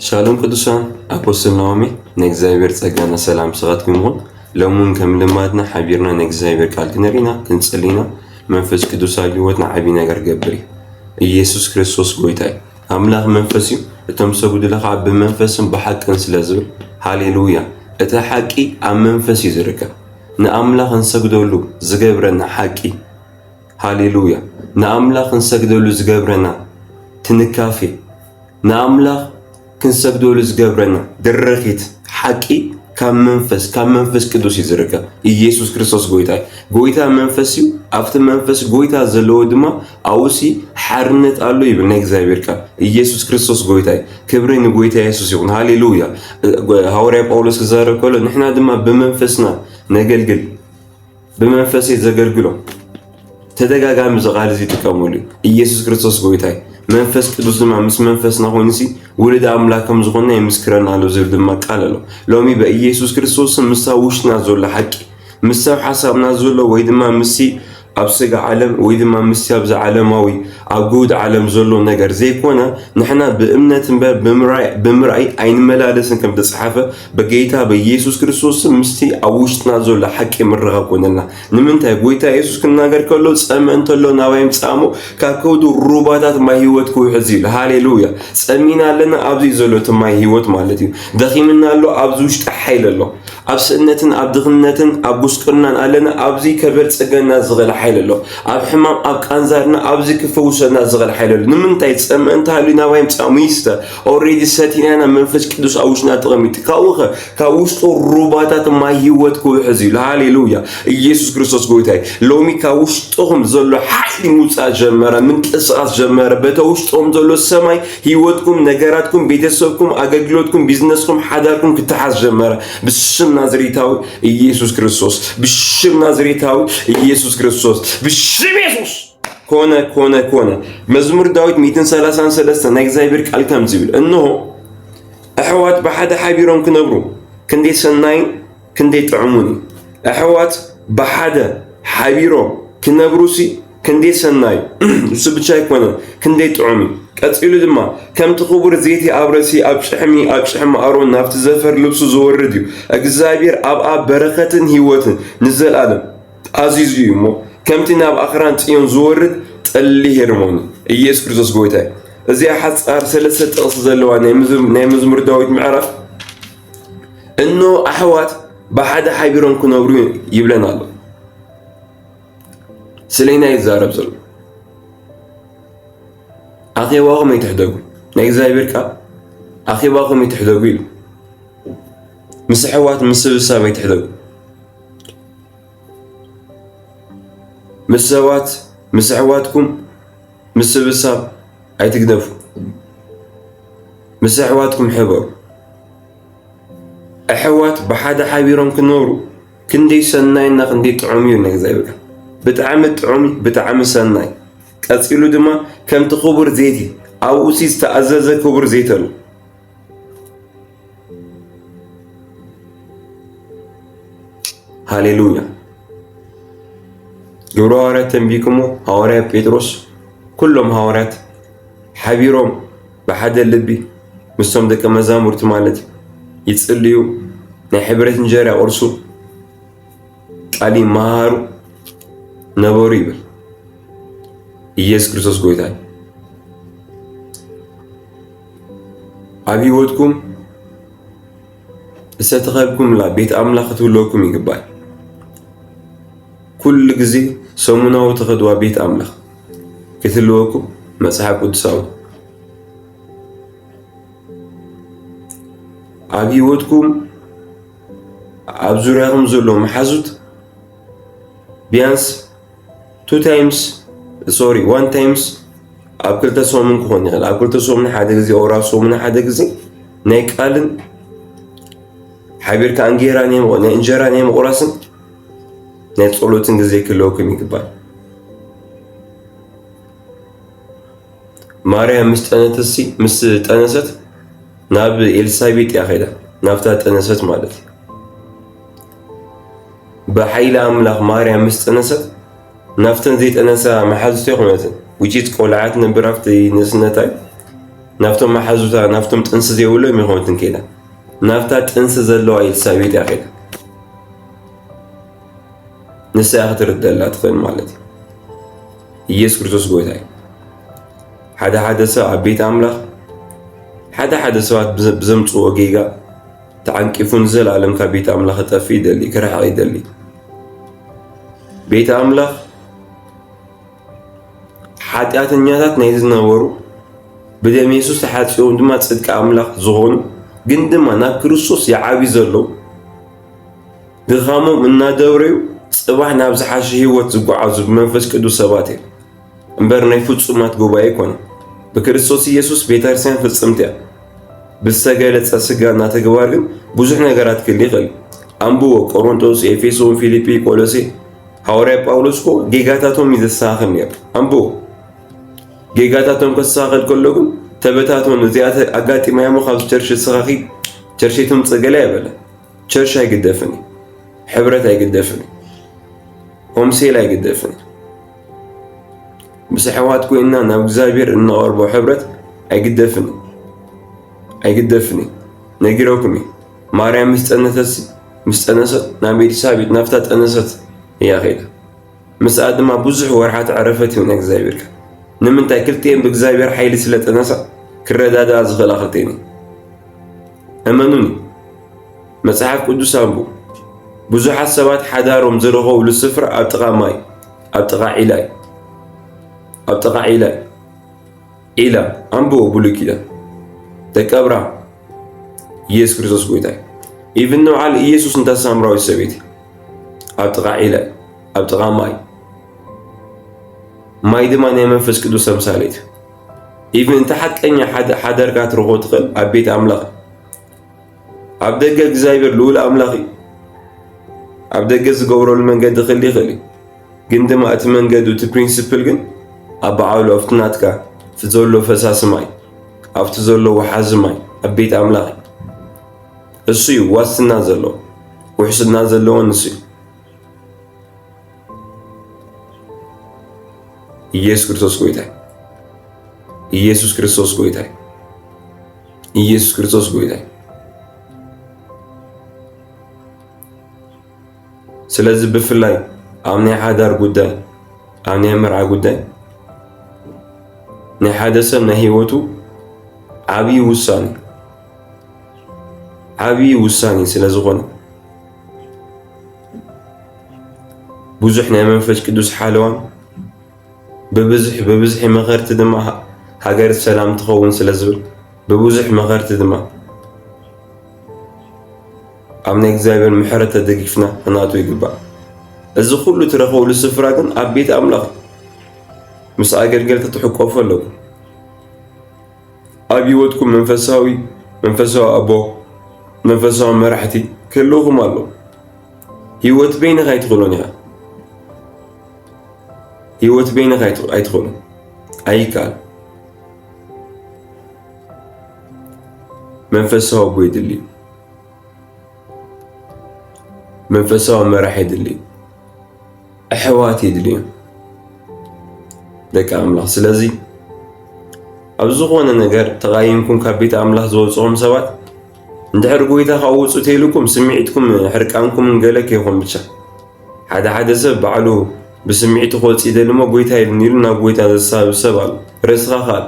ሻሎም ቅዱሳን ኣፖስትል ናኦሚ ናይ እግዚኣብሔር ጸጋና ሰላም ምስኻትኩም ይኹን። ሎሚ እውን ከም ልማድና ሓቢርና ናይ እግዚኣብሔር ቃል ክንርኢና ክንጽሊና መንፈስ ቅዱስ ኣብ ህይወትና ዓቢ ነገር ገብር እዩ። ኢየሱስ ክርስቶስ ጎይታ እዩ። ኣምላኽ መንፈስ እዩ። እቶም ሰጉድለ ከዓ ብመንፈስን ብሓቅን ስለ ዝብል ሃሌሉያ። እቲ ሓቂ ኣብ መንፈስ እዩ ዝርከብ። ንኣምላኽ እንሰግደሉ ዝገብረና ሓቂ ሃሌሉያ ንኣምላኽ ክንሰግደሉ ዝገብረና ትንካፌ ንኣምላኽ ክንሰግደሉ ዝገብረና ድርኺት ሓቂ ካብ መንፈስ ካብ መንፈስ ቅዱስ እዩ ዝርከብ ኢየሱስ ክርስቶስ ጎይታ እዩ ጎይታ መንፈስ እዩ ኣብቲ መንፈስ ጎይታ ዘለዎ ድማ ኣውሲ ሓርነት ኣሎ ይብል ናይ እግዚኣብሔር ቃል ኢየሱስ ክርስቶስ ጎይታ እዩ ክብሪ ንጎይታ ኢየሱስ ይኹን ሃሌሉያ ሃዋርያ ጳውሎስ ክዛረብ ከሎ ንሕና ድማ ብመንፈስና ነገልግል ብመንፈስ እየ ዘገልግሎ። ተደጋጋሚ እዚ ቃል እዚ ይጥቀመሉ ኢየሱስ ክርስቶስ ጎይታይ መንፈስ ቅዱስ ድማ ምስ መንፈስና ኮይኑሲ ውሉድ ኣምላክ ከም ዝኾነ የምስክረና ኣሎ ዝብል ድማ ቃል ኣሎ። ሎሚ በኢየሱስ ክርስቶስ ምስ ውሽጥና ዘሎ ሓቂ ምስ ሰብ ሓሳብና ዘሎ ወይ ድማ ምስሲ ኣብ ስጋ ዓለም ወይ ድማ ምስቲ ኣብዚ ዓለማዊ ኣብ ግውድ ዓለም ዘሎ ነገር ዘይኮነ ንሕና ብእምነት እምበር ብምርኣይ ኣይንመላለስን ከም ተጻሓፈ በጌይታ በየሱስ ክርስቶስ ስም ምስቲ ኣብ ውሽጥና ዘሎ ሓቂ ምርኻ ኮነልና ንምንታይ ጎይታ የሱስ ክናገር ከሎ ጸመ እንተሎ ናባይ ምጻሞ ካብ ከውዱ ሩባታት ማይ ህይወት ክውሕዝ እዩ ሃሌሉያ ጸሚና ኣለና ኣብዚ ዘሎ እቲ ማይ ህይወት ማለት እዩ ደኺምና ኣሎ ኣብዚ ውሽጢ ሓይል ኣሎ ኣብ ስእነትን ኣብ ድኽነትን ኣብ ጉስቅናን ኣለና ኣብዚ ከበልጽገና ዝኽእል ሓይል ኣሎ ኣብ ሕማም ኣብ ቃንዛርና ኣብዚ ክፈውሰና ዝኽእል ሓይል ኣሎ ንምንታይ ጸመ እንተሃልዩ ናባይ ምጻሙ ይስተ ኦሬዲ ሰቲና ኢና መንፈስ ቅዱስ ኣብ ውሽጥና ተቐሚጡ ካብኡ ኸ ካብ ውሽጡ ሩባታት ማይ ህይወት ክውሕዝ እዩ ሃሌሉያ ኢየሱስ ክርስቶስ ጎይታ እዩ ሎሚ ካብ ውሽጥኹም ዘሎ ሓይሊ ምውፃእ ጀመረ ምንቅስቓስ ጀመረ በተ ውሽጥኹም ዘሎ ሰማይ ህይወትኩም ነገራትኩም ቤተሰብኩም ኣገልግሎትኩም ቢዝነስኩም ሓዳርኩም ክተሓዝ ጀመረ ብስም ናዝሬታዊ ኢየሱስ ክርስቶስ ብሽም ናዝሬታዊ ኢየሱስ ክርስቶስ ብሽም የሱስ ኮነ ኮነ ኮነ መዝሙር ዳዊት 133 ናይ እግዚኣብሔር ቃል ከምዚ ይብል እንሆ ኣሕዋት ብሓደ ሓቢሮም ክነብሩ ክንደይ ሰናይ ክንደይ ጥዕሙን እዩ ኣሕዋት ብሓደ ሓቢሮም ክነብሩሲ ክንደይ ሰናይ እሱ ብቻ ኣይኮነ ክንደይ ጥዑም እዩ ቀፂሉ ድማ ከምቲ ክቡር ዘይቲ ኣብ ረሲ ኣብ ጭሕሚ ኣብ ጭሕሚ ኣሮን ናብቲ ዘፈር ልብሱ ዝወርድ እዩ እግዚኣብሔር ኣብኣ በረከትን ህይወትን ንዘለኣለም ኣዚዙ እዩ እሞ ከምቲ ናብ ኣኽራን ጽዮን ዝወርድ ጠሊ ሄርሞኒ ኢየሱስ ክርስቶስ ጎይታ እዩ። እዚኣ ሓጻር ሰለስተ ጥቕሲ ዘለዋ ናይ መዝሙር ዳዊት ምዕራፍ እኖ ኣሕዋት ብሓደ ሓቢሮም ክነብሩ ይብለን ኣሎ። ስለና ይዛረብ ዘሎ ኣኼባኹም ኣይትሕደጉ፣ ናይ እግዚኣብሔር ቃል ኣኼባኹም ኣይትሕደጉ ኢሉ ምስ ኣሕዋት ምስብሳብ ኣይትሕደጉ ምስ ሰባት ምስ ኣሕዋትኩም ምስብሳብ ኣይትግደፉ ምስ ኣሕዋትኩም ሕበሩ። ኣሕዋት ብሓደ ሓቢሮም ክነብሩ ክንደይ ሰናይ እና ክንደይ ጥዑም እዩ እና እግዚኣብሔር ቃል ብጣዕሚ ጥዑም ብጣዕሚ ሰናይ ቀፂሉ ድማ ከምቲ ክቡር ዘይቲ ኣብኡ ዝተኣዘዘ ክቡር ዘይቲ ኣሎ ሃሌሉያ ግብረ ሃዋርያት ተንቢኩሞ ሃዋርያ ጴጥሮስ ኩሎም ሃዋርያት ሓቢሮም ብሓደ ልቢ ምስቶም ደቂ መዛሙርቲ ማለት ይጽልዩ፣ ናይ ሕብረት እንጀራ ይቕርሱ፣ ቃል ይመሃሩ ነበሩ ይብል። ኢየሱስ ክርስቶስ ጎይታ ኣብ ህይወትኩም እተተኸብኩምላ ቤት ኣምላኽ ክትህልወኩም ይግባል። ኩሉ ግዜ ሰሙናዊ ተኸድዋ ቤት ኣምላኽ ክትህልወኩም መጽሓፍ ቅዱሳዊ ኣብ ህይወትኩም ኣብ ዙሪያኹም ዘሎ መሓዙት ቢያንስ ቱ ታይምስ ሶሪ ዋን ታይምስ ኣብ ክልተ ሰሙን ክኾን ይኽእል ኣብ ክልተ ሰሙን ሓደ ግዜ ኦር ኣብ ሰሙን ሓደ ግዜ ናይ ቃልን ሓቢርካ እንጌራ ናይ እንጀራ ናይ ምቑራስን ናይ ጸሎትን ግዜ ክህልወኩም ይግባል። ማርያም ምስ ጠነተሲ ምስ ጠነሰት ናብ ኤልሳቤጥ እያ ኸይዳ ናብታ ጠነሰት ማለት እዩ። ብሓይሊ ኣምላኽ ማርያም ምስ ጠነሰት ናብተን ዘይጠነሳ መሓዙቶ ይኹነትን ውጪት ቆልዓት ነብር ኣብቲ ንእስነታይ ናብቶም መሓዙታ ናብቶም ጥንሲ ዘይብሎም ይኹነትን ከይዳ ናብታ ጥንሲ ዘለዋ ኤልሳቤጥ እያ ከይዳ ንሳ እያ ክትርደላ ትኽእል ማለት እዩ ኢየሱስ ክርስቶስ ጎይታ እዩ ሓደ ሓደ ሰብ ኣብ ቤት ኣምላኽ ሓደ ሓደ ሰባት ብዘምፅዎ ጌጋ ተዓንቂፉ ንዘለኣለም ካብ ቤት ኣምላኽ ክጠፍእ ይደሊ፣ ክርሕቕ ይደሊ። ቤት ኣምላኽ ሓጢኣተኛታት ናይ ዝነበሩ ብደም የሱስ ተሓጺቦም ድማ ጽድቂ ኣምላኽ ዝኾኑ ግን ድማ ናብ ክርስቶስ ይዓብዩ ዘለዉ ድኻሞም እናደብረዩ ጽባሕ ናብ ዝሓሸ ህይወት ዝጓዓዙ ብመንፈስ ቅዱስ ሰባት እዮም። እምበር ናይ ፍጹማት ጉባኤ ይኮነ ብክርስቶስ ኢየሱስ ቤተክርስቲያን ፍጽምቲ እያ። ብዝተገለጸ ስጋና ተግባር ግን ብዙሕ ነገራት ክል ይኽእል። ኣንብቦ ቆሮንቶስ፣ ኤፌሶን፣ ፊልጲ፣ ቆሎሴ ሃዋርያ ጳውሎስ እኮ ጌጋታቶም እዩ ዘስተኻኽል ነይሩ። ኣንብቦ ጌጋታቶም ከስተኻኽል ከሎ ግን ተበታቶን እዚኣ ኣጋጢማያ እሞ ካብዚ ቸርሽ ዝሰኻኺ ቸርሽ ትምፅእ ገለ ኣይበለ። ቸርሽ ኣይግደፍን፣ ሕብረት ኣይግደፍን፣ ሆምሴል ኣይግደፍን። ምስ ኣሕዋት ኮይንና ናብ እግዚኣብሔር እንቐርቦ ሕብረት ኣይግደፍን ኣይግደፍን እዩ ነጊረኩም እዩ ማርያም ምስ ፀነተት ምስ ፀነሰት ናብ ኤልሳቤጥ ናብታ ጠነሰት እያ ከይዳ ምስኣ ድማ ብዙሕ ወርሓት ዕረፈት ይሁን እግዚኣብሔር ከ ንምንታይ ክልቲኤን ብእግዚኣብሔር ሓይሊ ስለ ጠነሳ ክረዳድኣ ዝኽእላ ክልቲኤን እመኑኒ መጽሓፍ ቅዱስ ኣንቡ ብዙሓት ሰባት ሓዳሮም ዝረኸብሉ ስፍራ ኣብ ጥቓ ማይ ኣብ ጥቓ ዒላ እዩ ኣብ ጥቓ ዒላ እዩ ዒላ ኣንብቦ ብሉይ ኪዳን ደቂ ኣብርሃም ኢየሱስ ክርስቶስ ጎይታ እዩ ኢቭን ንበዓል ኢየሱስ እንታ ሳምራዊት ሰበይቲ ኣብ ጥቓ ዒላ እዩ ኣብ ጥቓ ማይ ማይ ድማ ናይ መንፈስ ቅዱስ ተምሳሌት ኢቭን እንተ ሓቀኛ ሓዳርካ ትረኽቦ ትኽእል ኣብ ቤት ኣምላኽ ኣብ ደገ እግዚኣብሔር ልዑል ኣምላኽ እዩ። ኣብ ደገ ዝገብረሉ መንገዲ ክል ይኽእል እዩ ግን ድማ እቲ መንገዱ እቲ ፕሪንስፕል ግን ኣብ በዓሉ ኣብቲ ናትካ እቲ ዘሎ ፈሳሲ ማይ ኣብቲ ዘሎ ወሓዚ ማይ ኣብ ቤት ኣምላኽ እዩ። እሱ እዩ ዋስትና ዘለዎ ውሕስና ዘለዎን እሱ እዩ። ኢየሱስ ክርስቶስ ጎይታ ኢየሱስ ክርስቶስ ጎይታ ኢየሱስ ክርስቶስ ጎይታ ስለዚ ብፍላይ ኣብ ናይ ሓዳር ጉዳይ ኣብ ናይ መርዓ ጉዳይ ናይ ሓደ ሰብ ናይ ህይወቱ ዓብዪ ውሳኔ ዓብዪ ውሳኔ ስለ ዝኾነ ብዙሕ ናይ መንፈስ ቅዱስ ሓለዋን ብብዝሒ ብብዝሒ መኸርቲ ድማ ሃገር ሰላም ትኸውን ስለ ዝብል ብብዙሕ መኸርቲ ድማ ኣብ ናይ እግዚኣብሔር ምሕረት ተደጊፍና ክናቱ ይግባእ። እዚ ኩሉ ትረኽበሉ ስፍራ ግን ኣብ ቤት ኣምላኽ ምስ ኣገልገልቲ ትሕቆፉ ኣለኩም። ኣብ ህይወትኩም መንፈሳዊ መንፈሳዊ ኣቦ መንፈሳዊ መራሕቲ ክህልውኹም ኣሎ ህይወት በይንኻ ኣይትኽእሎን ኢኻ ህይወት በይንኻ ኣይትኽእሎን ኣይከኣል መንፈሳዊ ኣቦ የድሊ መንፈሳዊ መራሕ የድሊ ኣሕዋት የድልዮም ደቂ ኣምላኽ። ስለዚ ኣብ ዝኾነ ነገር ተቓይምኩም ካብ ቤት ኣምላኽ ዝወፅኹም ሰባት እንድሕር ጎይታ ካብ ውፁ ተይልኩም ስምዒትኩም ሕርቃንኩም ገለ ከይኹም ብቻ ሓደ ሓደ ሰብ ባዕሉ ብስምዒቱ ክወፅ ይደሊ እሞ ጎይታ ይብኒ ኢሉ ናብ ጎይታ ዘሳብ ሰብ ኣሎ ርእስኻ ካል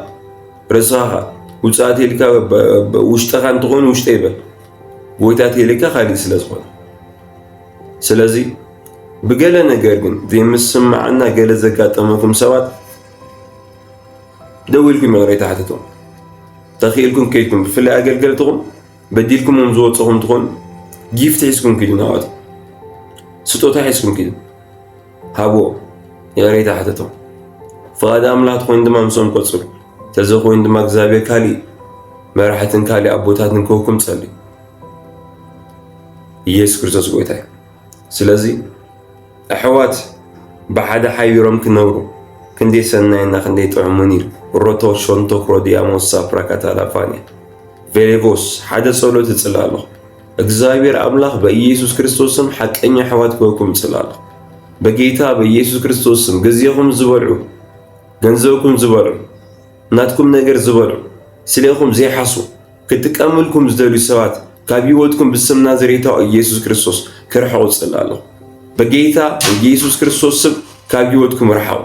ርእስኻ ካል ውፅኣት ኢልካ ውሽጠኻ እንትኾይኑ ውሽጠ ይበል ጎይታ ተይልካ ካሊእ ስለ ዝኾነ ስለዚ ብገለ ነገር ግን ዘይምስማዕና ገለ ዘጋጠመኩም ሰባት ደው ኢልኩም ይቕሬታ ሓትቶ ተኽኢልኩም ከይድኩም ብፍላይ ኣገልገልትኹም በዲልኩምም ዝወፅኹም ትኾኑ ጊፍት ሒዝኩም ኪዱ ናዋት ስጦታ ሒዝኩም ኪዱ ሃብዎ ይቕሬታ ሓትቶ ፍቓድ ኣምላኽ ትኾይኑ ድማ ምስኦም ቆፅሩ ተዘኾይኑ ድማ እግዚኣብሔር ካሊእ መራሕትን ካሊእ ኣቦታትን ክህኩም ፀልዩ ኢየሱስ ክርስቶስ ጎይታ እዩ ስለዚ ኣሕዋት ብሓደ ሓቢሮም ክነብሩ ክንደይ ሰናይ እና ክንደይ ጥዑሙን እዩ። ሮቶ ሾንቶ ክሮዲያሞስ ሳፕራ ካታላፋንያ ቬሌቮስ ሓደ ጸሎት እጽላለኹ እግዚኣብሔር አምላክ በኢየሱስ ክርስቶስ ስም ሐቀኛ ሕዋት ክበኩም ጽላለሁ። በጌታ በኢየሱስ ክርስቶስ ስም ግዚኹም ዝበልዑ ገንዘብኩም ዝበልዑ ናትኩም ነገር ዝበልዑ ስሌኹም ዘይሓሱ ክጥቀምልኩም ዝደልዩ ሰባት ካብ ህይወትኩም ብስም ናዝሬታዊ ኢየሱስ ክርስቶስ ክርሕቁ ጽላለሁ። በጌታ በኢየሱስ ክርስቶስ ስም ካብ ህይወትኩም ርሓቁ።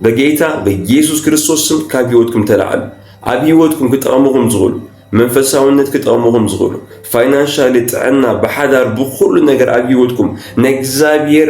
በጌታ በኢየሱስ ክርስቶስ ስም ካብ ህይወትኩም ተላዓሉ። ኣብ ህይወትኩም ክጠቕምኹም ዝኽእሉ መንፈሳውነት ክጠቕምኹም ዝኽእሉ ፋይናንሻሊ፣ ጥዕና፣ ብሓዳር ብኩሉ ነገር ኣብ ህይወትኩም ናይ እግዚኣብሔር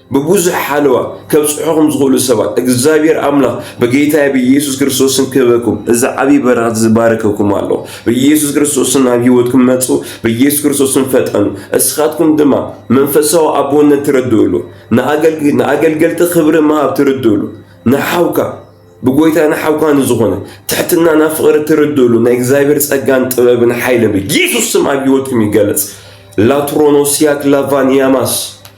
ብብዙሕ ሓለዋ ከብጽሑኹም ዝኽእሉ ሰባት እግዚኣብሔር ኣምላኽ ብጌታዬ ብኢየሱስ ክርስቶስ ስም ክህበኩም እዚ ዓብይ በረኸት እዚ ባረከኩም ኣሎ። ብኢየሱስ ክርስቶስ ስም ናብ ህይወትኩም መጹ፣ ብኢየሱስ ክርስቶስ ስም ፈጠኑ። እስኻትኩም ድማ መንፈሳዊ ኣቦነት ትርድእሉ፣ ንኣገልገልቲ ክብሪ ምሃብ ትርድእሉ፣ ንሓውካ ብጎይታ ንሓውካ ንዝኾነ ትሕትና ናብ ፍቕሪ ትርድእሉ ናይ እግዚኣብሔር ጸጋን ጥበብን ሓይልን ብኢየሱስ ስም ኣብ ህይወትኩም ይገለጽ። ላትሮኖሲያክ ላቫንያማስ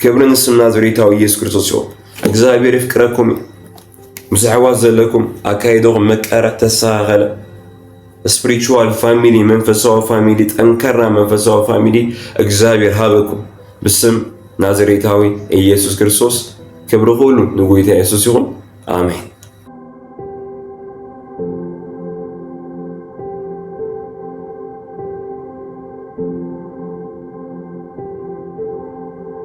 ክብሪ ንስም ናዝሬታዊ ኢየሱስ ክርስቶስ ይኹን። እግዚኣብሔር ይፍቅረኩም እዩ። ምስ ኣሕዋት ዘለኩም ኣካይደኹም መቀረ ተስተኻኸለ ስፕሪቹዋል ፋሚሊ መንፈሳዊ ፋሚሊ ጠንከራ መንፈሳዊ ፋሚሊ እግዚኣብሔር ሃበኩም ብስም ናዝሬታዊ ኢየሱስ ክርስቶስ ክብሪ ኩሉ ንጎይታ ኢየሱስ ይኹን ኣሜን።